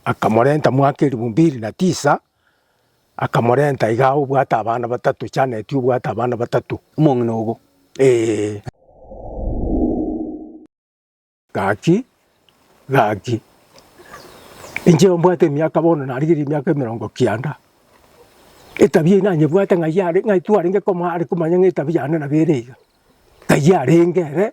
Akamorenta mwaka elifu mbili na tisa, akamorenta iga obwate abana batato, Janeti obwate abana batato. Omong'ina obo. Ee. Gaki, gaki. Inche mbwate emiaka bono narigerie emiaka emerongo kianda. Etabia eye nanyebwate ng'ai are, ng'ai twarenge komo are komanya ng'a etabia yane nabo ere iga. Ng'ai arenge ere,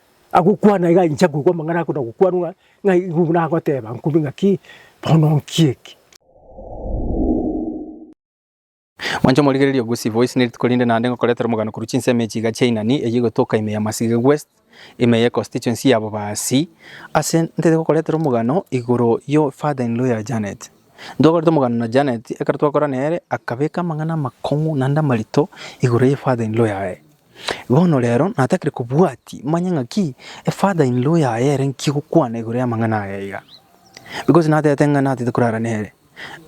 Agokwana iga inche nkoigwa amang'ana ake na gokwanwa ng'a igo buna agoteba nkombe ng'aki, bono nki eke? Mwanche omorigereria Gusii Voice ne rituko rinde naende ngokoretera omogano korwa chinsemo echi iga chiainani, eyio egotoka ime ya Masige West, ime ye constituency ya Bobasi. Ase ntete gokoretera omogano igoro yo father in law ya Janet. Ntwakorete omogano na Janet, ekero twakorana nere akabeka amang'ana amakong'u naende amarito igoro ye father in law yaye. Bono rero natakire kobwati manye ng'aki e father in law yaye ere nki gokwana igoro y'amang'ana aya iga. Because natete ng'a natete korara nere,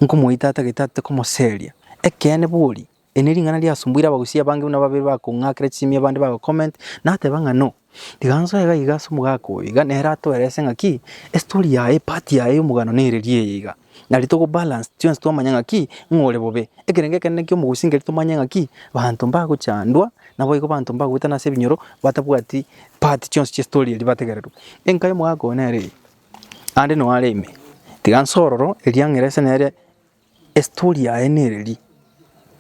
nkomoita atagete ate komoseria. Ekeene bori, eri nering'ana riasumbuire abagusia abange buna babere bakong'akera chisemi abande bago comment nateba ng'a no. Riganso aiga iga ase omogaka oyo iga nere atoerese ng'aki estory yaye part yaye y'omogano nereria eye iga. Na riria togo balance chionsi twamanya ng'aki ng'a ore bobe. Ekerengo ekenene ki'omogusi nkeri tomanye ng'aki banto mbagochandwa naboigo banto mbagoetana ase ebinyoro batabwati part chionsi chi'estory eria bategererwe. Enka y'omogaka oyo nere eye, naende noo are ime. Tiga nsororo eriang'erese nere Estori yaye nereri,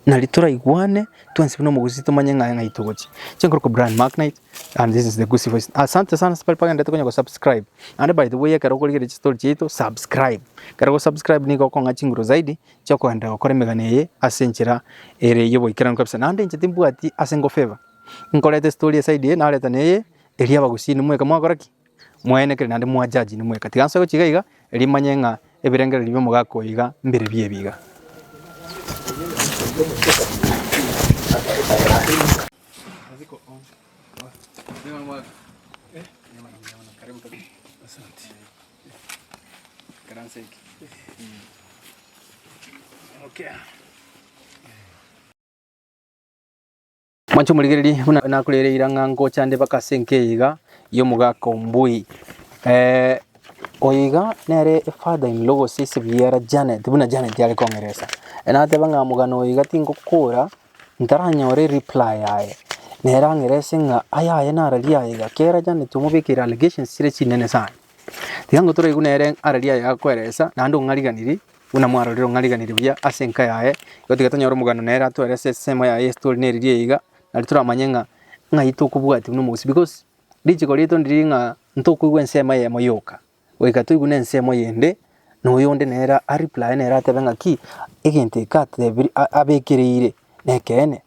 na ritura igwane twensi buna omogusi tomanye ng'a ng'ai togochia. Chinkoro kwa Brian Macknight and this is the Gusii Voice. Asante sana asbari bagenderete konya gosubscribe. Naende by the way ekero okorigereria chistori chiaito subscribe. Ekero ogosubscribe nigo okong'a chinguru zaidi chia okogenderera gokora emegano eye ase enchera ere y'oboikeranu kabisa. Naende inche timbwati ase ngofavour, nkoreta estori eside eye nareta neye eria abagusii inwe mweka mwakora ki? Mwaene kere naende mwajaji nimweka. Tiga nsoe gochika iga, erio manye ng'a ebirengererio bi'omogaka oyo iga mbire biya ebiya. Mwanche omorigererie buna nakoreire ira ng'a ngocha nde mpaka ase enka eye iga y'omogaka o Mbui. Eh, oyo iga nere father in law gose ise biara Janet, buna Janet are kong'eresa. Eh, nateba ng'a mogana oyo iga tingokora, ntaranyore reply yaye. Nere ang'erese ng'a aya aye nararia aye iga. Kera Janet omobekire allegations chire chinene sana. Tiga ngotoreigu nere are riaye agakweresa, naende ong'ariganirie buna mwarorire ong'ariganirie buya ase enka yaye. Igo tiga tonyore omogano nere atwerese esemo yaye ase tore nere riaye iga, nari toramanye ng'a ng'ai tokobwatia buna omogusii. Because richiko riaito ndiri ng'a ntokoigwa ensemo eyemo yoka, goika toigwe na ensemo eyende na oyonde nere a replye nere atebe ng'aki egento eke atebi- a- abekereire nekeene.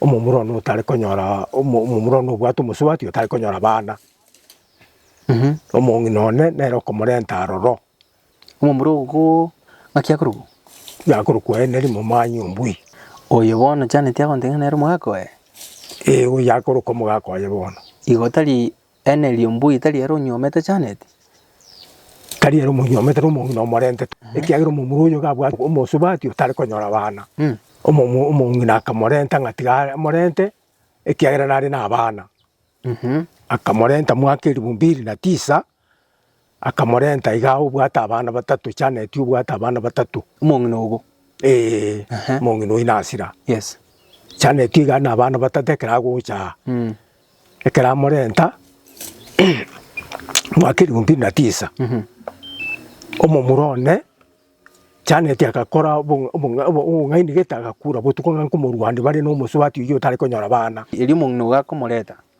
Omomura one otare konyora, omomura one obwate omosubati otare konyora abana, omong'ina one nere okomorenta aroro. Omomura ogo ng'aki akorokwa? Yakorokwa aye ne rimuma ang'e ombui. Oyo bono Janet agontebia ng'a nere omogaka oye? Ee, oyo yakorokwa omogaka oye bono. Igo tari Eena erio mbugio tari ere onyuomete Janet? Tari ere omonyuomete nomong'ina omorentete, ekiagera omomura oyo gabwate omosubatia otare konyora abana. Omong'ina akamorenta ng'a tiga amorente, ekiagera nare nabana. Akamorenta mwaka elifu mbili na tisa, Akamorenta igaa, Obwate abana batato, Chaneti obwate abana batato. Omong'ina ogo. Ee, omong'ina oyio nasira. Yes. Chaneti igaa na abana batato ekero agocha aa. Mm. Ekero amorenta, mwaka elifu mbili na tisa, omomura one, Chaneti agakora obong'a- obong'a- obo- obong'aini gete agakura botuko ng'a nkomorwani bare na omosubati oyio otare konyora bana. Erio omong'ina ogo akomoreta.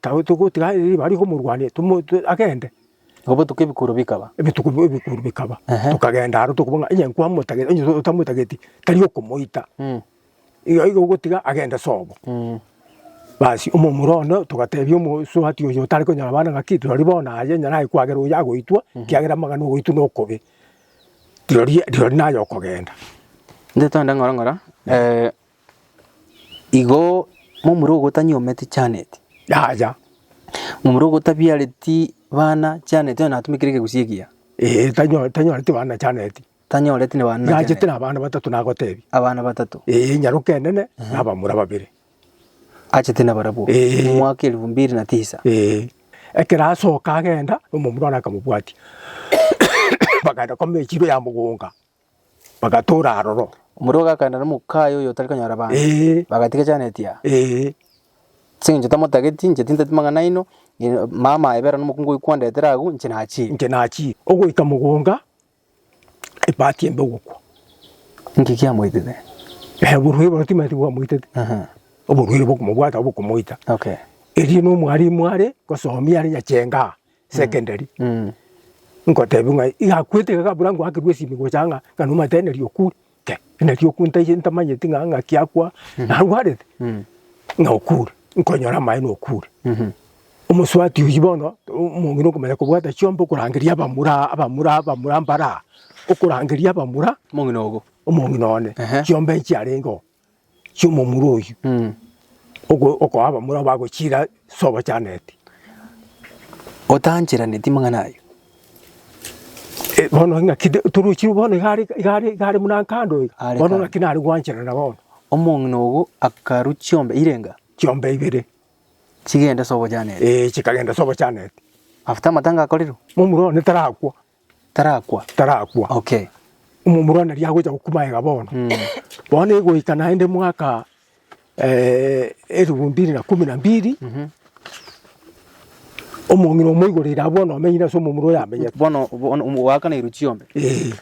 Tari togotiga aye riba aria komorwania tomoite agende. Egobotuka ebikuro bikaba. Ebituko bi- ebikuro bikaba, Ehe. tokagenda aro tokobua ng'a onye nkwamotagete onye to- otamotageti tari okomoita, Mm. iga iga ogotiga agende sobo. Mm. Basi omomura one togatebia omosubati oyo otare konyora abana ng'aki rirorio bono aye onye naye kwagera oyo agoitwa, ekiagera amang'ana ogoitwa nokobe. Rirorio rirorio naye okogenda. Nde togende ng'ora ng'ora, Igo momura ogotania omete Janet, yaya, momura ogotabiareti bana Janet onye natumekire egegusi egiya. Ee, tanyo- tanyoreti bana Janet. Tanyoreti na bana Naachete Janet. na abana batato nagotebia. Abana batato. Ee, nyaroka enene na abamura babere. Achete na barabwo. Ee. Omwaka elifu mbiri na tisa. Ee. Ekero asoka agenda, omomura one akamobwatia. Bagaenda komechie ime ya mogonga. bagatoora aroro. Omorua ogakenda nomoka aye oyotari konyora abanto, Ee. bagatiga Janeti aa. Ee. Ase eng'encho tamotageti, inche tintageti mang'ana aino, ng'ina mama aye bera nomokungu oyio kwandetere agwo, inche nachire. Inche nachire. Ogoika mogonga, ebati embe ogokwa. Inki kiamoitete? Eh, oborwaire bono timaeti bwamoitete. Aha. Oborwaire bokomobwata, bokomoita. Okay. Erio nomwarimu are, gosomia are nyachenga aa. secondary, ngotebia ng'a iga akwete iga kabura ngoakerwa esimi gocha ng'a ng'a nomanyete ng'a neri okure, ke neri okure ntaiche ntamanyeti ng'a ng'aki akwa narwarete, ng'a okure, nkonyora amaene okure. Omosubati oyio bono omong'ina okomanya kobwata chiomba okorangeria abamura abamura abamura mbare aa, okorangeria abamura, omong'ina ogo, omong'ina one, chiomba echiarenge oo. chi'omomura oyio okoa abamura abo bagochiira sobachaneti. Otancheraneti amang'ana ayio. Bono ng'aki torochi bono iga are iga are iga are buna kando iga, bono ng'aki nare gwancherana bono. Omong'ina ogo akarwa chiombe ire enga? Chiombe ibere. Chigende sobochaneti. Eeh chikagenda sobochaneti. After amatanga akorerwe? Momura one tarakwa. Tarakwa. tarakwa. Okay. Omomura one riria agocha gokuma aiga bono. Bono egoika naende mwaka eh, elifu mbili na kumi na mbili, omong'ina omoigoreire abwo bono omenyire ase omomura oyo amenyete. Bono bono omo- goakana erio chiombe. Eh,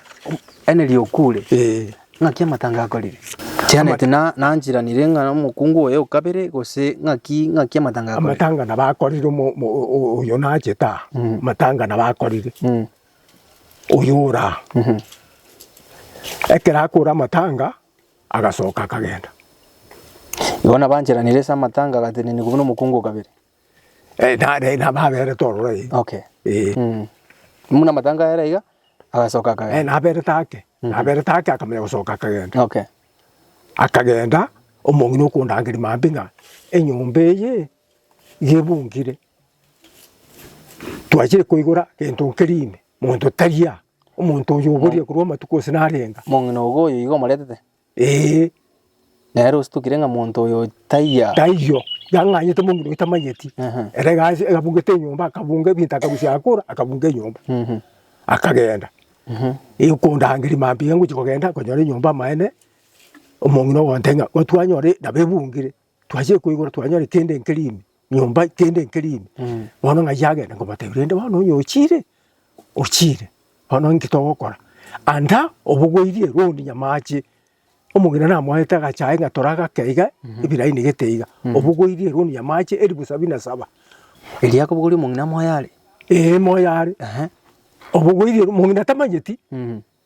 Yaani riokure. eh. Ng'aki amatanga akorire? Chianeti na nanchiranire ng'a omokungu oye o kabere, gose ng'aki ng'aki amatanga akorire? Amatanga nabo akorire omo- omo- o- o- oyo nachete aa, amatanga nabo akorire Mm. oyo ore aa. Ekero akora amatanga, agasoka akagenda. Igo nabo anchiranire ase amatanga agatenenia kobua nomokungu o kabere. Eh, nare nababerete ororo eh. Okay. Eh. Mm. Muna matanga yara iga agasoka Eh, akaga. naberete ake naberete ake akamanya gosoka akagenda Okay. akagenda omong'ina okondangeria maambia ng'a enyomba eye iga ebungire twachire koigora gento nkeri ime monto tari aa omonto oyo oboria korwa amatuko gose narenga Mong'ina ogo oyo iga omoretete. Ee, nere ositokire ng'a monto oyo taiyo. Taiyo, yang'anyete mong'ina oyo tamanyeti. Aha. Ere egasi egabungete enyomba, akabunga ebinto akarusia akora, akabunga enyomba. Mhm. Akagenda. Ee, okondangeria maambia ngochia kogenda, konyora enyomba amaene, omong'ina ogontebia ng'a, gotwanyore nabo ebungire. Twachire koigora twanyora kende nkere ime, nyomba kende nkere ime, bono ng'a ayio agende nkobatebia, rende bono nonya ochire, ochire, bono inki togokora? Anda obogoirie roondi nyama ache, omong'ina namoete agacha aye ng'a tore agake iga, ebira ainigete iga, obogoirie roondi nyama ache elifu sabini na saba. Erio akobogoria omong'ina moyo are? Ee moyo are. Obogoirie, omong'ina tamanyeti,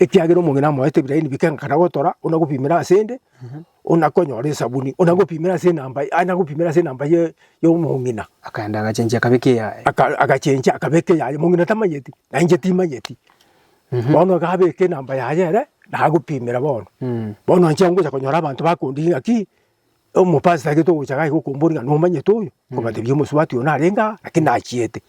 Ekiagera omong'ina amoete ebirai nibike nkana gotora, onagopimera asende, onakonyora esabuni, onagopimera ase enamba ya, anagopimera ase enamba ye yomong'ina. Akaenda agachenchia akabeka eyaye. Aka agachenchia akabeka eyaye, omong'ina tamanyeti, na inche timanyeti. Bono iga abeke enamba yaye ere, nagopimera bono. Bono inche ngocha konyora abanto bakondigia ng'aki, Omopastor gete ogocha iga agokombori ng'a nomanyete oyo, okobatebia omosubati oyo narenge aa, lakini nachiete.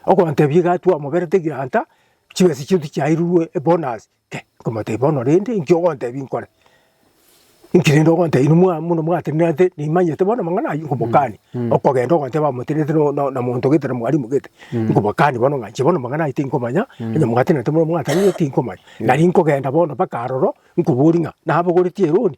Okontebia iga twamoberete egranta, chibesa chiaito chiairurwe ebonus, kei, nkomotebia bono rende inki ogontebia nkore? Inki rende ogontebia inwe mwa buna mwatenenerete nimanyete bono amang'ana ayio, nkobokani. Okogenda ogoteba amotenenerete no no na monto gete na mwalimu gete, nkobokani bono ng'a inche bono amang'ana ayio tinkomanya, onye mwatenerete buna mwatenenerete tinkomanya. Nari nkogenda bono mpaka aroro, nkobori ng'a nabogoretie eroni,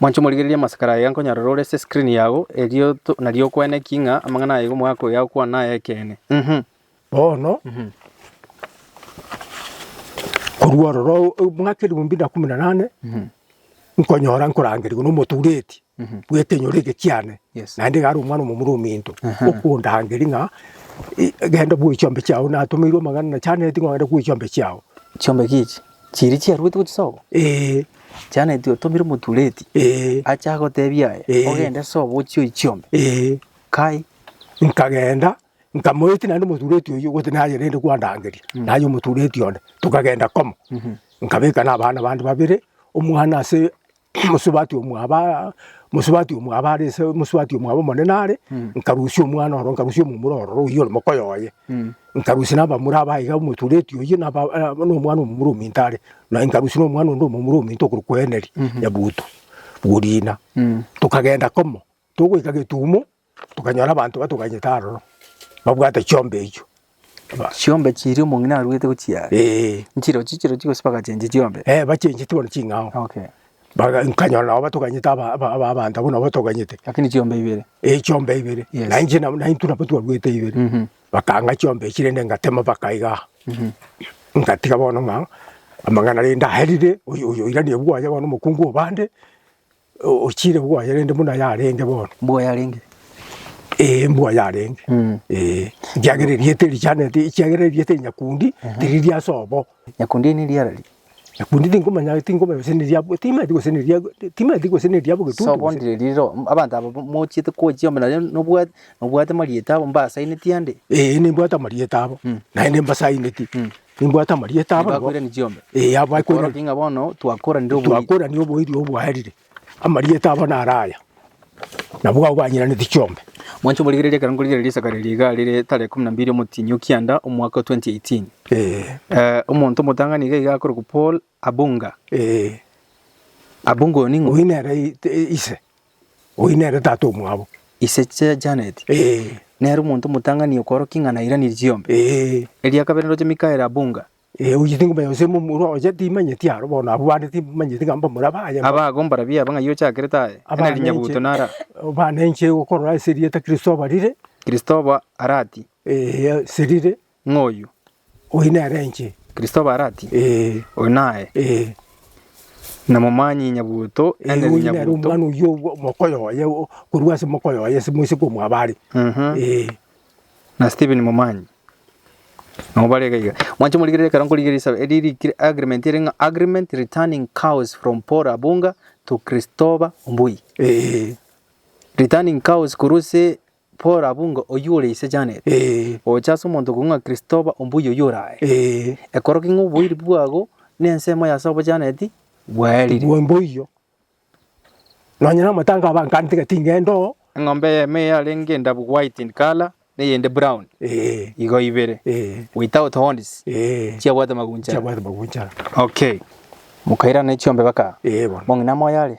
Mwanche omorigererie amasakara aye iga nkonyorera ore ase eskrini yago, erio to- nario okwane ki ng'a amang'ana aye iga omogaka oyo agokwana naye ayekene. Mhm. Bono, korwa ororo o- o- omwaka eriombio na kumi na nane, nkonyora nkorangerigwa na omotureti bw'ekenyoro eke kiane, Yes. naende iga are omwana omomura ominto, okondangeria ng'a e- genda bwoe chiombe chiao, natomeirwe amang'ana na chianeti ng'a ogende bwoe chiombe chiao. Chiombe ki echi? Chiria chiaruete gochia sobo? Ee. Janet otomire omotureti. Ee. Ache agotebie aya. Ee. Ogende sobo ochie oichiombe. Ee. Kai. Nkagenda nkamoetia naende omotureti oyio gose naye rende kwandangeria mm -hmm. naye omotureti onde tokagenda komo mm -hmm. nkabeka na abana bande babere omwana ase mosubati omwabo aa, mosubati omwabo are ase mosubati omwabo omonene are, nkarusia omwana oro, nkarusia omomura ororo oyio ore moka oyoye, nkarusia na abamura aba iga omotureti oyio na aba na omwana omomura ominto are, naye nkarusia na omwana onde omomura ominto okorokwa Eneri, Nyabuto, Bworiina. Tokagenda komo, togoika getumo. Tokanyora abanto batoganyete aroro, babwate chiombe echio. Chiombe chiria omong'ina aruete gochia are. Ee. Nchirochio chirochio gose bagachenchia chiombe. Ee, bachencheti bono ching'ao. Okay. Baga nkanyora nabo batoganyete aba aba aba abanto abwo nabo batoganyete. Lakini chiombe ibere. Ee chiombe ibere. Yes. Na inche nabo na intwe nabo twaruete ibere. Mhm. Bakang'a chiombe echi rende ngatema baka iga aa. Mhm. Ngatiga bono ng'a amang'ana rende aerire, oyo oyo oirania bwoye bono omokungu obande. Ochiire bwoye rende buna yarenge bono. Mbwa yarenge. Ee, mbwa yarenge. Mm. Ee, ekiagera erieta erichanete, ekiagera erieta eri nyakundi tiriri ase obo. Nyakundi eri neriara ri. Nyakundi tingomanya, tingomanya gose neria abwo, timanyeti gose neria, timanyeti gose neria abwo getutu Sobo gose. ndire riro. M- Abanto aba mochiete kochia amo nario nobwate, nobwate marieta abo mbasaineti ande. Ee, nimbwate amarieta abo, naende mbasaineti. Nimbwate amarieta abo nigo Nibakoirani chiombe. Eh, abo bakoirani. Okorokia ng'a bono twakoranire obuya. twakorania oboiri obwaerire amarieta abo naro aya nabwo abo banyiranete chiombe Mwanche omorigereria ekero nkorigereria esakari eria iga rire tarehe ikomi na mbiri omotienyi o kianda omwaka o 2018. Eh, Eh, omonto omotang'ani iga iga akorokwa Paul Abunga. Ee, Abunga oyo ning'o? Oyio nere ise, oyio nere tata omwabo. Ise chia Janet. Ee. Nere omonto omotang'ani okoorokia ing'ana airanerie chiombe. Ee. Eria kabere ndoche Mikael Abunga. Ee, oyio ting'omanya gose momura oye timanyeti aro bono abwo bande timanyeti ng'a mbamura baye. Aba agwo mbarabia aba ng'ai ochakire taye, Abana enari nyabuto inche- nara. Abana inche gokorora ase erieta Kristoba rire. Kristoba arati. Ee, ase rire. ng'oyio. Oyio nere inche. Kristo barati, Oyo naye. Na momanyi nyabuto ene Oyio nere omwana oyio omokoyo oye korwa ase omokoyo oye ase moise komwabo are. Na Stephen momanyi. Nabo bare iga iga. Mwanche morigereria ekero nkorigereria esabe eria rikire agreement ere ng'a agreement returning cows from Paul Abunga to Christopher Mbui. Returning cows korwa ase Paul abunge oyio ore ise Janet, oche ase omonto okong'u ng'a Kristoba ombuya oyio ore aye, ekoroki ng'a oboiri bwabo nensemo y'ase obo Janet bwaerire. Mboiyo, nonya namatanga abankantire ting'ende oo. Eng'ombe eyemo eyarenge endabu white in colour na eyende brown, igo ibere, without horns, chiabwate maguncha. Chiabwate maguncha. Okay. Mokairana ne chiombe baka. Bono ng'ina moyo are.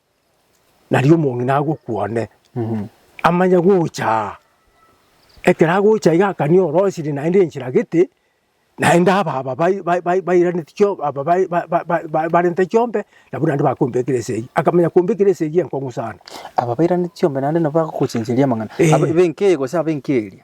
Nario omong'ina agokwa one, amanye gocha aa, ekero agocha iga akanie orosiri naende enchera gete, naende ababa bai bai bai bairaneti chio aba bai ba- ba- ba- ba barente chiombe, nabwo naende bakombekera esegi, akamanya kombekera esegi enkong'u sana. Aba bairaneti chiombe naende nabo bagokochencheria amang'ana, Ee. abe b'enka eye gose abe enka eria.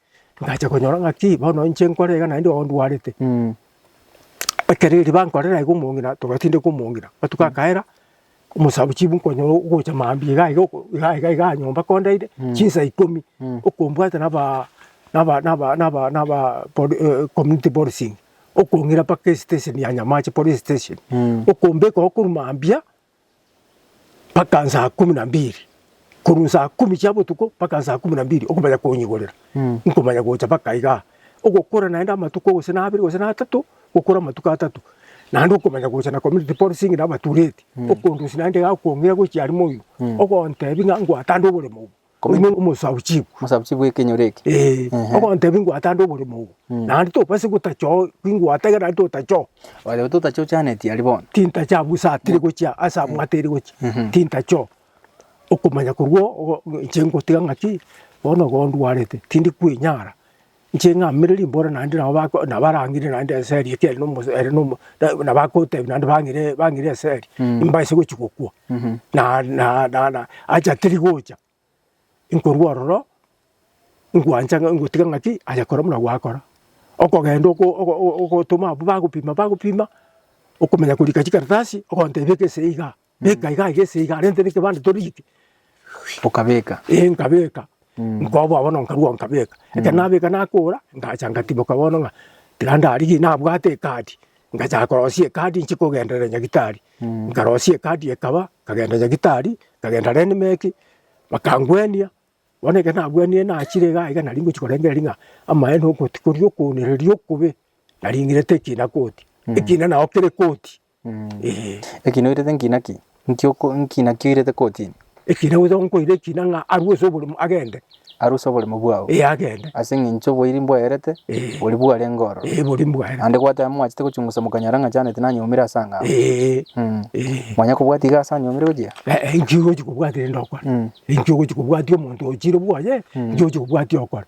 Ngacha konyora ng'aki bono inche nkore iga naende ondwarete. Ekero eriba nkorera iga omong'ina togatindeka omong'ina, matuko akaera, omosaku chibu nkonyora ogocha mambia iga iga oko iga iga igaa nyomba kondeire, chinsa ikomi, okombwate nabaa naba naba naba nabaa pod community policing, okong'ira mpaka esiteseni ya nyamache, police station, okombeka oo korwa mambia mpaka nsaa kumi na mbiri, korwa nsaa kumi chia botuko mpaka nsaa kumi na mbiri okomanya konyigorera, nkomanya gocha mpaka igaa. Ogokora naende amatuko gose na abere gose na atato, gokora amatuko atato, naende okomanya gocha na community policing na abatureti, okondusia naende igaa okong'ira gochia aria moino, ogontebia ng'a ngwatande oboremo obo. Komenya Omo- omosabuchibu Omosabuchibu w'ekenyoro eke. Eh, Ehe. ogontebia ingwata ande oborimo obo Mm. naende tobase gotacha oo ingwata egere naende totacha oo Oyo totache ochaneti aria bono. tintacha abwo ase atire gochia ase amwata ere gochia Mhm. tintacha oo okomanya korwa oo ogo- inche ngotiga ng'aki bono igo ndwarete tindi kwenyara Inche ng'amire rimbora naende nabo bako nabo barang'ire naende eseri ekiagera nomosa ere nomo na nabakotebia naende bang'ire bang'ire eseri, mbaise gochia gokwa. Na na na na acha teri gocha, nkorwa ororo, ngwancha ng'a ngotiga ng'aki aye kora buna gwakora. Okogenda oko ogo ogo ogotoma abwo bagopima bagopima, okomenya korika chikaratasi, ogontebia ekese igaa. Beka iga iga eseiga arente nekebande torite. Okabeka. Ee nkabeka. Mm. Nkoboa bono nkarua nkabeka. Ekero nabeka nakora, ngacha ngatimoka bono ng'a tiga ndarigie nabwate ekadi. Ngacha korosia ekadi nchie kogenderera nyagitari. Mm. Nkarosia ekadi ekaba, nkagenda nyagitari, nkagenda Renmec, bakangwenia, bono ekero nagwenirie nachire iga iga nari ngochia korengereria ng'a amaene okoti koria okoonereria okobe, naring'irete ekina koti. Mm. Ekina nao kere koti. Ekina oirete nkina ki? Nkina ki oirete kotini? Ekina gocha gonkoire ekina ng'a arue ase oborimo agende. Arue ase oborimo bwao. Ee, agende. Ase eng'encho oboiri mbwaerete, boria bwarenge ororo. Ee, boria mbwaerete. Naende gwateba mwachete gochungusa mokanyora ng'a Janet nanyomire ase ang'ao. Ee. Mwanya kobwati iga ase anyomire gochia? Ee, inki ogochi kobwati rende okore? Inki ogochi kobwatia omonto ochiire bwoye? Inki ogochi kobwatia okore?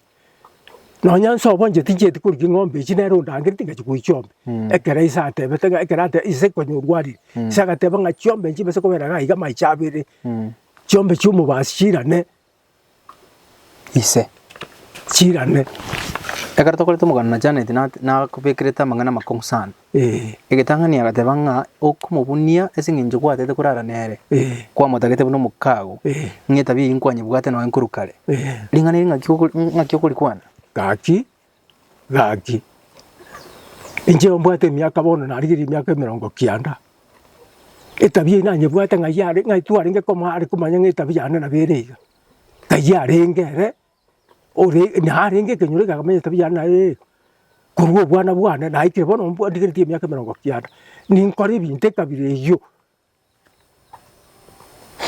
Nonya inse obo inche tinchieti korua ching'ombe echi nere ondangereti ingachia korua chiombe. Ekero ise atebete ng'a ekero ate ise konyorwa ariri, ise agateba ng'a chiombe echi chibese kobera iga iga amaicho abere, chiombe chia omobasi chirane ise, chirane. Ekero tokorete omogano na Janet nat nakobekerete amang'ana amakong'u sana. Ee. Egetang'ani agateba ng'a okomobunia ase engencho gwatete korara nere, Ee. kwamotagete buna omokaago, Ee. ng'a etabia eyio nkwanyebwate noe nkorwa kare, Ee. Ring'ana eri ng'aki okori, ng'aki okorikwana? Gaki, gaki, inche mbwate emiaka bono narigereria emiaka emerongo kianda, etabia eyio nanyebwate ng'ai are, ng'ai twarenge komo are komanya ng'a etabia yane nabo ere iga, ng'ai arenge ere. ore narenge ekenyoro ekio akamanya etabia yane naye eh, korwa obwana bwane naikire bono mbwa ndigeneti emiaka emerongo kianda, ninkore ebinto ekabira eyio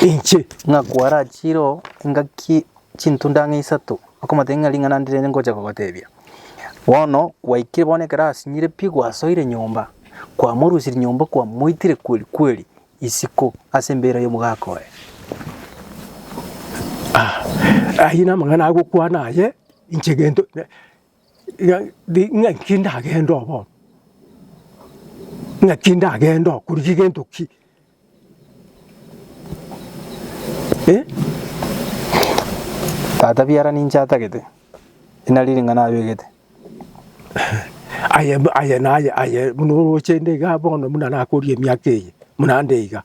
inche. Ng'a kwarachiire oo engaki chintunda ang'e isato, akomoteebia ng'a ring'ana ndire ngocha kogoteebia. Bono gwaikire bono ekero asinyire pi gwasoire nyomba, kwamorusirie nyomba kwamoitire kweri kweri, isiko ase embeera y'omogaka oye. Ayio namang'ana agokwana aye, inche gento ng'aki ndagende oo bono? Ng'aki ndagende oo korigia gento ki? Tata biara ninche atagete, eri nario ring'ana abegete. Aye, aye, naye, aye, buna oroche inde iga bono buna nakoria emiaka eye, buna nde iga,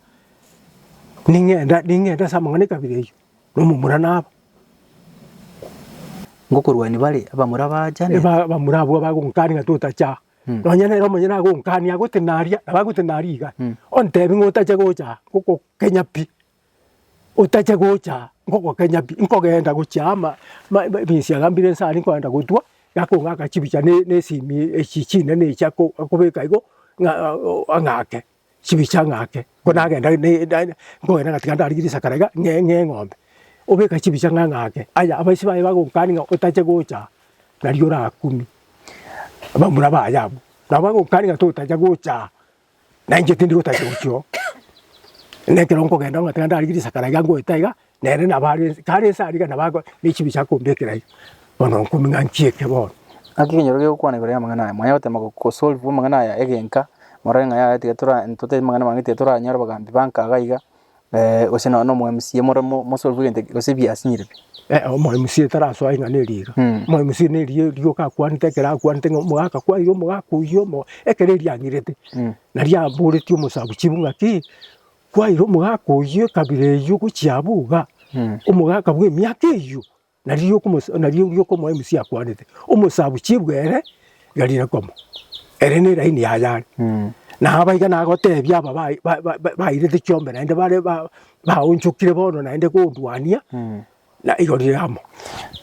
ning'ende, ning'ende ase amang'ana ekabira eyio, na omomura naba. Ngokorwania bare abamura baachane. Eba abamura abwo bagonkania ng'a totacha aa. Mm. Nonye nere omonye nagonkania agotenari aa, nabo agotenari iga, ontebi ng'a otache gocha aa, ngokokenya pi, Otache gocha ngogokenya pi, nkogenda gochia ama ebisiaga mbire inse aria nkogenda gotwa, gakong'aka chibicha ne nesimi echi chinene echi ako akobeka igo ng'a ang'ake chibicha ang'ake. Ko nagenda ne da nkogenda ngatiga ndarigire risakara iga ng'e ng'e eng'ombe, obeka chibicha ng'a ng'ake. Aya abaisi baye bagonkania ng'a otache gocha nari orakumie, abamura baye abwo, nabo bagonkania ng'a totacha gochaa. Na inche tindi gotacha gochia oo, na ekero nkogenda ng'a tiga ndarigie risaka riga ngoeta iga, nere nabo are ense kare ense aria iga nabo ago ne chibi chia kombekera iga, bono nkomia ng'a nchieke bono. Gaki ekenyoro kegokwana igoro y'amang'ana aya, mwaya gotema go- go solve amang'ana aya egenka, morore ng'a yaya tiga tora ntotebe mang'ana amange tiga toranyore obogambi ba nkaga iga, Eh, gose nonya nomo MC more mo- mosore bwe egento gose bi asinyire bi. Eh, omo MC tarasoa ing'ana eriira. Mm. Omo MC ne eriya erioka akwanete ekero akwanete ng'a omogaka kwaire omogaka oyio omo ekero eriang'irete. Mm. Naria aboretie omosabuchibu ng'a ki, kwaire omogaka oyio ekabira eyio gochia abwo iga, Mm. omogaka bw'emiaka eyio. Na riria okomoa emusia akwanete, omosaabwa chiebwe ere gari nakomoa, ere neraini yaye are. Na aba iga nagoteebia aba bairete chiombe naende bare baonchokire bono naende kondwania, na igoro rire amo.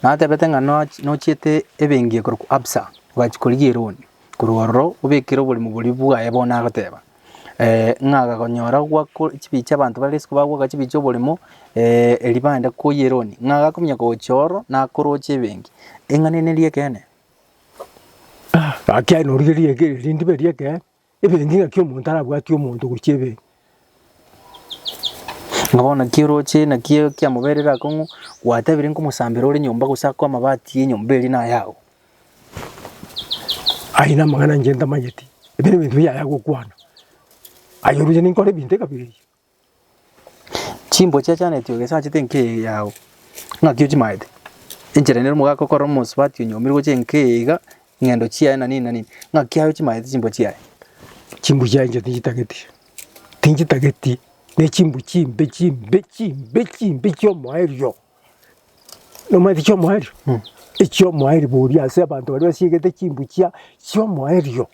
Natebete ng'a nochiete ebengi ekorokwa Absa, ogachia korigia eroni korwa ororo obekere oborimo boria bwaye bono agoteeba. ng'a agakonyora gwako chibii chi'abanto bare isiko bagwaka chibii chi'oborimo eribande koyia eroni, ng'a agakominyoka gochia ororo nakoroche ebenki, eng'ana eye neri ekeene? Gaki aye norigereiri eke rindebe eri ekeene, ebenki ng'aki omonto arabwati omonto gochia ebenki. Ng'a bono naki oroche naki ekiamoberire akong'u, gwatebire nkomosambera ore nyomba gose akoe amabati y'enyomba eria nayago, Aye namang'ana inche ntamanyeti, ebi nebinto biaye agokwana, aye oroche ninkore ebinto ekabere eye. Chimboa chiachaneti oo gese achete enka eye yago, ng'aki ochimaete, enchera ende omogaka okorora omosubati onyomire gocha enka eye iga, ng'endo chiaye na nini na nini, ng'aki aye ochimaete chimboa chiaye. Chimboa chiaye inche tinchitageti, tinchitageti, ne chimboa chimbe chimbe chimbe chimbe chiomoerio. Nomanyete chi'omoerio? Echi'omoerio boria ase abanto baria basiegete chimbuchia chi'omoerio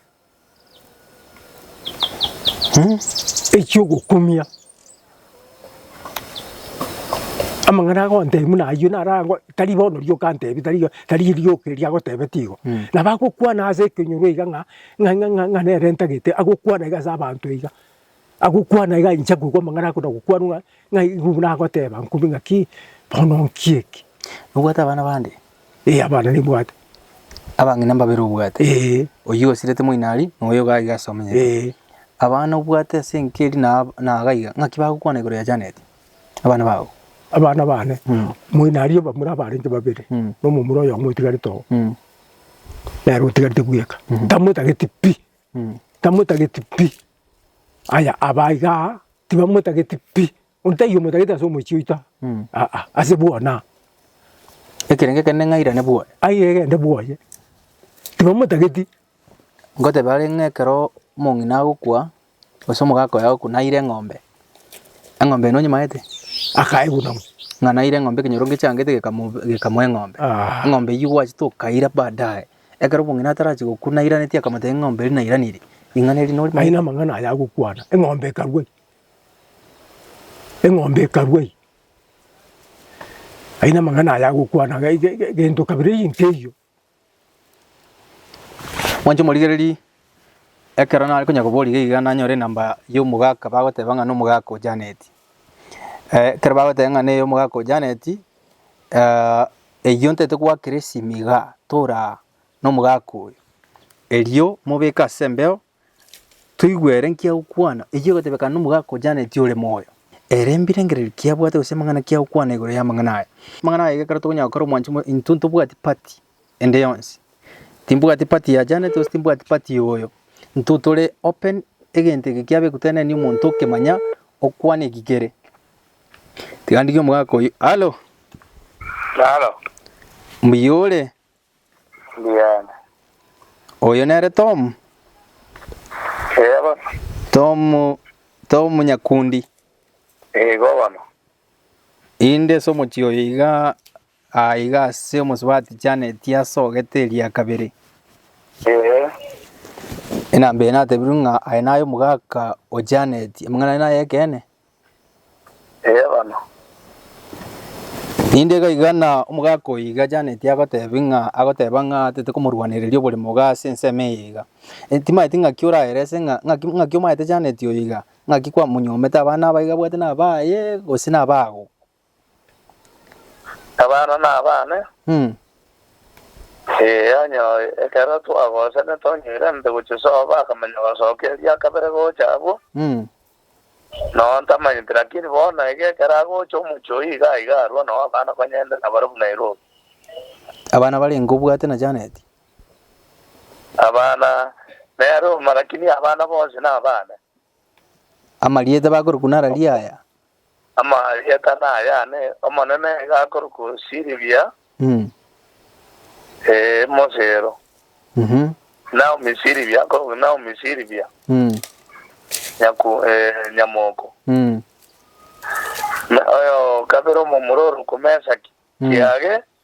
echi'ogokumia. Amang'ana agontebia buna ayio narangwa tari bono riria okantebia tari tari rioka erio agotebete igo. Nabo agokwana ase ekenyoro iga ng'a ng'a ng'a nere ntagete agokwana iga ase abanto iga. Agokwana iga inche nkoigwa amang'ana ake na gokwanwa ng'a ng'a igo nagoteba nkumbe ng'aki bono nki eki. Nobwate abana bande? Ee, abana nimbwate. Abang'ina mbabere obwate? Ee. Oyio osirete moino aria, na oyo iga aiga ase omenyete. Ee. Abana obwate ase enka eria na na iga iga, ng'aki bagokwana igoro ya Janet, abana bao? Abana bane? Mm. Moino aria abamura abarenge babere, Mm. na omomura oyomo otigarete oo, Mm. nere otigarete bweka. Ntamotageti pi, Mm. ntamotageti pi. Aya aba iga aa tibamotageti pi, onde taiyo omotagete ase omochie oito aa, aa aa, ase bwona aa. Ekerenge kende ng'a airane bwoye. Airane gende bwoye, tibamotageti. Ngotebia are ng'a ekero omong'ina agokwa, gose omogaka oye agokwa naire eng'ombe, eng'ombe eye nonyimanyete? Akaeguna buna. Ng'a naire eng'ombe ekenyoro ngechangete gekamobe gekamoa eng'ombe. Eng'ombe eywo gwachete okaira baadaye. Ekero omong'ina atarachie gokwa nairanetie akamotebia, Eng'ombe eria nairaneiri, ring'ana eri nori Aye namang'ana aya agokwana, eng'ombe ekarua ime, eng'ombe ekarua ime. Aye namang'ana aya agokwana ge- ge- ge- gento kabere ime keiyo. Mwanche omorigererie, ekero nare konya koboria iga iga nanyore enamba ya omogaka bagoteba ng'a na omogaka o Janet. Ekero bagoteba ng'a neye omogaka o Janet, Eyio ntete goakera esimi igaa tora nomogaka oyo, erio mobeke ase embeo, toigwe ere nki agokwana, eyio egotebekana nomogaka ojaneti ore moyo, ere mbirengererio ki abwate gose amang'ana ki agokwana igoro y'amang'ana aya. Amang'ana aya ekero tokonyora gokora omwancho intwe ntobwati party. ende yonsi. Timbwati party ya Janet gose timbwati party ya oyo. Intwe tore open egento eke kiabe gotenenia omonto okemanya okwana eki kere. Tiga ndigie omogaka oyio. Hallo. Halo, Mbuya ore? mbuyaane. Oyo nere Tom. Eego, Tom Tom Nyakundi. igo bono. Inde ase omochie oyo iga Aa iga ase omosubati Janet asogete eria kabere. Ee. Enamba eye natebirwe ng'a aye naye omogaka o Janet. Amang'ana aye naye ekeene? Ee bono. Rinde iga iga na omogaka oyo iga Janet agotebia ng'a agoteba ng'a atete komorwanereria oboremo iga ase ensemo eye iga. E, timaeti ng'aki oraerese ng'a ng'aki ng'aki omaete Janet oyo iga? Ng'aki kwamonyomete abana abaye iga abwate nabaye gose nabago? Abana nabane, ee, onye ekero twagosene tonyoire nte gochia soba akamanya gosoka eria kabere gocha abwo, noo ntamanyeti, lakini bono iga ekero agocha omochie oyio iga aiga arua noo abana konyende nabare buna Nairobi. Abana barenge obwate na Janet? Abana nere uma lakini abana bonsi nabane. Amarieta bakorokwa nararia aya. Amarieta naya ane, Omonene iga akorokwa Siribia, Mm. ee, Mosero. Mhm. Naomi Siribia akorokwa Naomi Siribia, Mm. nyaku, ee, nyamoko. Mm. Na oyo kabere omomura orokwa Mesaki, Mm. kiage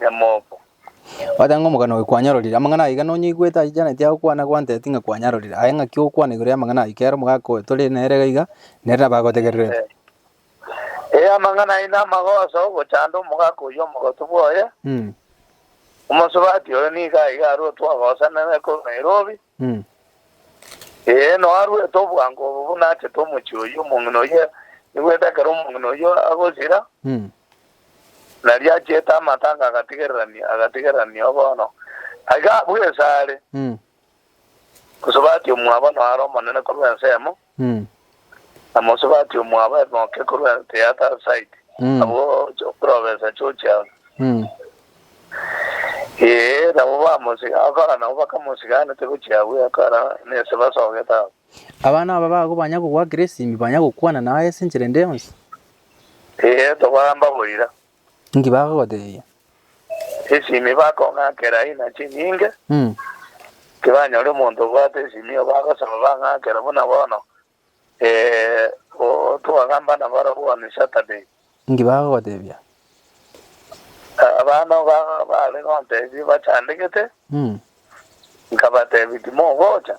Nyamombo. Ogoteba ng'a omogano oyo kwanyarorire. Amang'ana aiga nonyaigwete achichanetie agokwana gwantebeti ng'a kwanyarorire. Aye ng'aki ogokwana igoro y'amang'ana ayio kera omogaka oyo tore nere iga iga, nere nabo agotegererete. Ee, amang'ana ayio namagoso ogochanda omogaka oyio omogotu bwoye. Omosubati oyo nigo aiga arue twagosanire korwa Nairobi. Eeno, arwete obwango obo buna achete omochie oyio, omong'ina oyio nigwete ekero omong'ina oyio agosira, nario achiete amatanga agatigererania, agatigererania oo bono. Iga abwo esare, gose bati omwabo noare omonene korwa ensemo, na mosubati omwabo emoke korwa The Other Side, abwo chiokorobesa chiochia ororo. Ee, nabo bamosiga agakora, nabo bakamosiga anete gochia agwo agakora, nese basogete agwo. Abana aba bago banya kogoa Grace, ime banya gokwana naye ase enchera ende yonsi. Ee, tobaamba boira. Inki bagogotebia? Esimi bakong'akera aina chinyinge. Tibanyori omonto obwate esimi obo agosaba bang'akere buna bono twagamba nabarabwo on Saturday. Inki bagogotebia? Abana obo bare gontebia bachandegete, nkabatebia timogocha.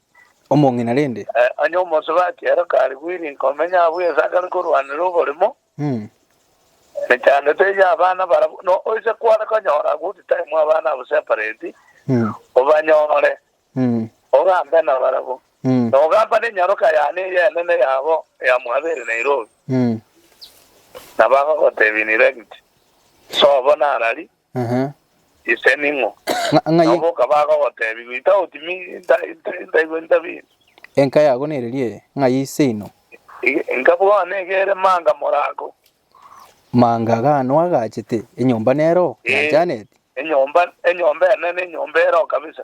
omong'ina rende. Onye omosubati ere karigwiri komenya abwo esagare korwanera oborimo, mechandete eye abana barabwo no oise kware konyora good time abana abo separate, obanyore, ogambe nabarabwo, na ogamba nenyaroka yane eye enene yabo ya Mwabere Nairobi, na bagogotebi ni rent, sobo narari. Ise ning'o? Na oboka bagogoteebia, Goita otime intaigwe intabie. Enka yago nereria eye, ng'ai ise ino? Enka bwane iga ere manga morako. Manga gano agachete, enyomba nero yanchanetie. Enyomba ene nenyomba ero kabisa.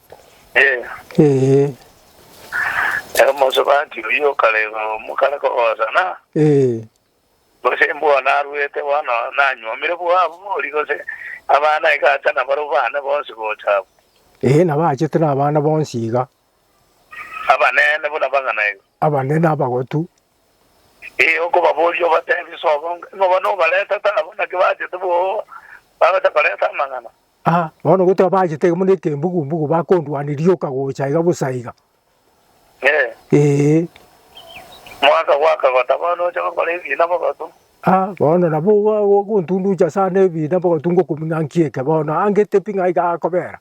Ee. Ee. Omosubati oyio okarega omokare kogosana, Ee. gose imbwa narwete bono nanyuomire bwabori, gose abana iga acha nabarobane bonsi gocha abwo. Ee, nabachete nabana bonsi iga. Abanene buna abang'ana iga. Abanene abagotu. Ee, okobaboria obatebi, Sobo, ng'o bono obaretete aba, naki bachete boo, bagocha koreta amang'ana? Aa, bono gotoba bachete iga buna ekembugu-mbugu bakondwania rioka gocha iga bosa iga. Ee, Ee, mwaka gwaka gotabana oche gokora ebiina bogotu. aa, bono nabo ogo- ogo- ogontunducha ase ane ebiina bogotu ngokumia ng'a nki eke bono, ange tepi ng'a iga agakobera.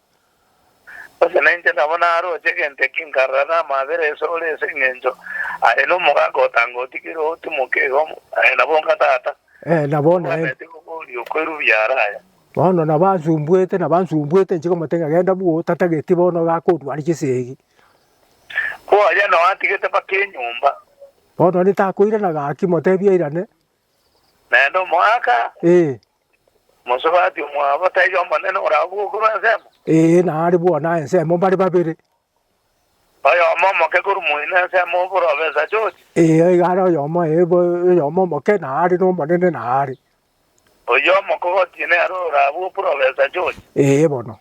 Gose nainche nabo naroche egento eki nkarora namabera ase ore ase engencho are nomogaaka otanga otigire otimoke iga omo, aye nabo onga tata, Ee, na bono naende. obwaneti bokoriokwa erubia araya. Bono nabansumbwete, nabansumbwete, inche komotebia ng'a, Genda bwo, otatageti bono iga akodwari chisegi. Ko aria nao atigete mpaka enyomba. Bono onde takoirana gaki, motebie airane. Naende omoaka, Ee, mosubati omwabo, taiyo omonene orabwo korwa ensemo. ee, nare bwona aa ensemo mbare babere. Oyomo omoke korwa moino ensemo oboro obe esachochi. Ee, iga are oyomo, ee, bo- oyomo omoke, na are nomonene, na are. Oyomo kogoti nere orabue oporofesa George? Ee bono.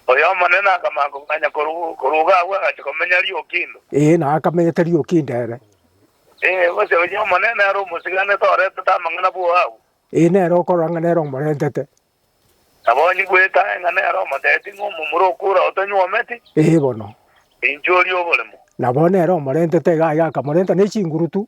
Oyo Omonene akamakoganya korwa iga agwo agachia komenya Riokindo? Ee, na akamenyete Riokindo ere. Ee, gose oyo Omonene are omosiganete oretete amang'ana bwoo agwo? Ee, nere okorora ng'a nere omorentete. Nabo onye bwete aye ng'a nere omoteti ng'a omomura okura otonyuometi? Ee bono. Inchuo ria oboremo. Nabo nere omorentete iga aye akamorenta ne chingurutu,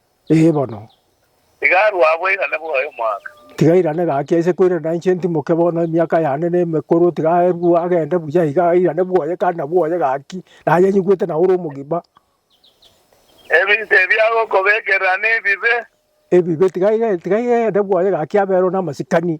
Ee bono. Tiga arue aa bwairane bwaye omwaka. Tiga airane gaki aise koirana na inche ntimoke bono emiaka yane nemekoro, tiga arue agende buya iga airane bwaye kandi na bwaye gaki, naye nyigwete na ore omogima. Ebinto ebi agokobekerera nebibe. Ebibe, tiga airane bwaye gaki aberwe namasikani.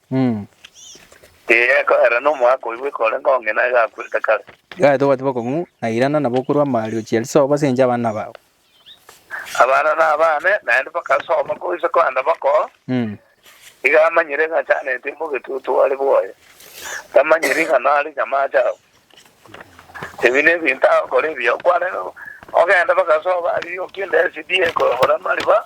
Tigekoa era nomwaka oyo bweka orenge ong'e naye gakwerete kare. Gaki tobwati bokong'u, na irana nabo okorua amario chia risobo ase enchera abana bao. Abana nabane, naende bagasoma goisa koenda bakoo. Iga amanyire ng'a chaneti mbobe etutu are bwoye, tamanyiri ng'a nare chamache ao. Ebi nebinto agokora ebiya, okwarenge ogenda bagasoba, arirokia endesi diye ekoyobora amariba,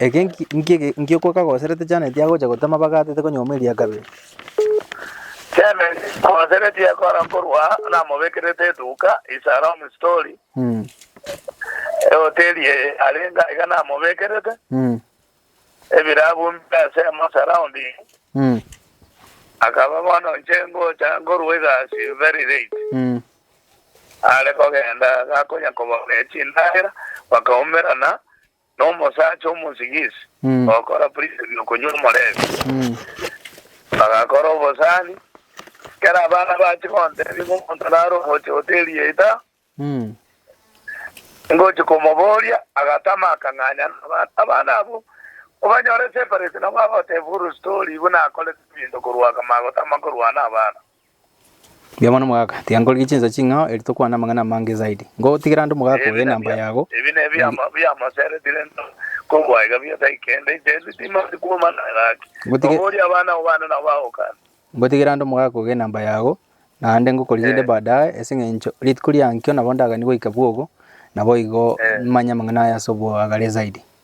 Eke ngi'okwo kagoserete Janeti agocha gotema bagatete konyuomwa eria kabere. Janeti ogosereti ekora korwa namobekerete eduka Isarong Story, ehoteri eye arenge aiga namobekerete ebirabu mbire ase emo surrounding, akaba bono inche ngocha nkorwa egasi very late, are kogenda gakonya kobabia chindagera bakaumerana Nomosacha omosing'isi ogokora buna ebi okonywa omoreembe, agakora obosani. Ekero abana bachia gontebia ng'a omonto nare ogocha hoteli eye ta, ngochia komoboria, agatama akang'anya nabana. Abana abwo obanyore separate nabo agoteeba full story buna akorete ebinto korwa kama agotama korwa nabana. Mbuya mono mogaka, tiga nkorigie chinsa ching'ao eri tokwane amang'ana amange zaidi. Ngogotigera ande mogaka oyo enamba yago. Ebi nebiamo biamoseretire ntoro, kobua iga bi'esaai kende inchende timanti kwomana gaki. Ngotige- Noboria abana obane nabo bagokana. Ngotigera ande omogaka oyo enamba yago, naende ngokorigia inde Eh. baadaye, ase eng'encho rituko riankio nabo ndagani goika bwogo, naboigo Eh. manye amang'ana aya ase oboagare zaidi.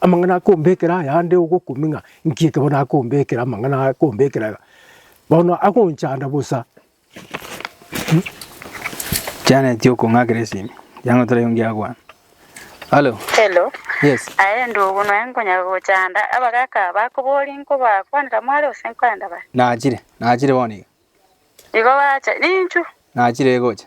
Amang'ana akombekera aya ande ogokumia ng'a nki ekero nakombekera amang'ana aya akombekera iga, bono agonchanda bosa. Janet okong'akera esimi yang'o taraigwe ngiakwana. Halo. Hello. Yes. Aye ndugu noe nkonyara gochanda abagaka bakobori nkobakwanera mware ose nkwanera bare. Nachire, nachire bono iga. Igo bacha ninchu. Nachire gocha.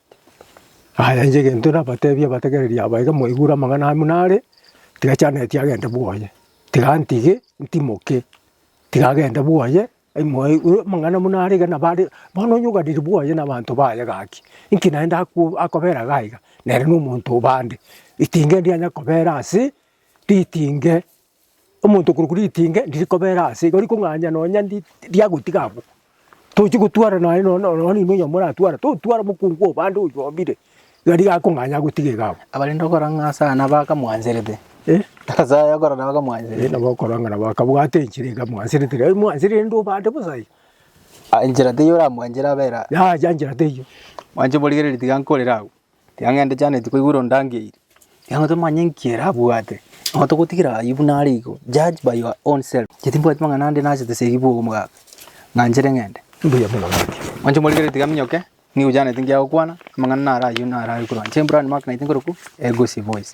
Aye inche egento nabateebie abategereri aba iga, moigure amang'ana aya buna are, tiga Janeti agende bwoye, tiga antige ntimoke, tiga agende bwoye, ai moigure amang'ana buna are iga nabo are bono onye oganire bwoye na abanto baye gaki, inki naende akwo akobera iga iga, nere na omonto o bande, ritinga ndianyakobera ase ritinge. Omonto okorokwa ritinge ndiri kobera ase iga, orikong'anya nonya ndi riagotiga abwo. Tochi gotwara naye no no nonye nonya oyomo oratware, totware omokungu obo ande oywo obire, iga nigo akong'anya agotige iga abwo. Abarenge okora ng'a ase aya nabo akamwanserete, ase aya okora nabo akamwanserete. Nabo okora ng'a nabo akabwate enchera iga amwanserete, rirorio mwanserire rende obande bosa iga. Enchera teiyo oramwanchera abera. Yacha nchera teiyo. Mwanche morigererie tiga nkorere agwo. Tiang'ende Janet koigwa ore ondangeirie. Igo tomanye nki erabwate. Igo togotigera ayio buna are igo. Judge by your own self. Inche timbwati mang'ana ande nachete ase eyio bwa omogaaka. Ng'anchere ng'ende. Mbuya mono ngaki. Mwanche moregere tiga minyoke. Nigo Janet nki agokwana. Amang'ana naro ayio naro are korwa inche. Brian Mark naitwe nkorokwo Egosi Voice.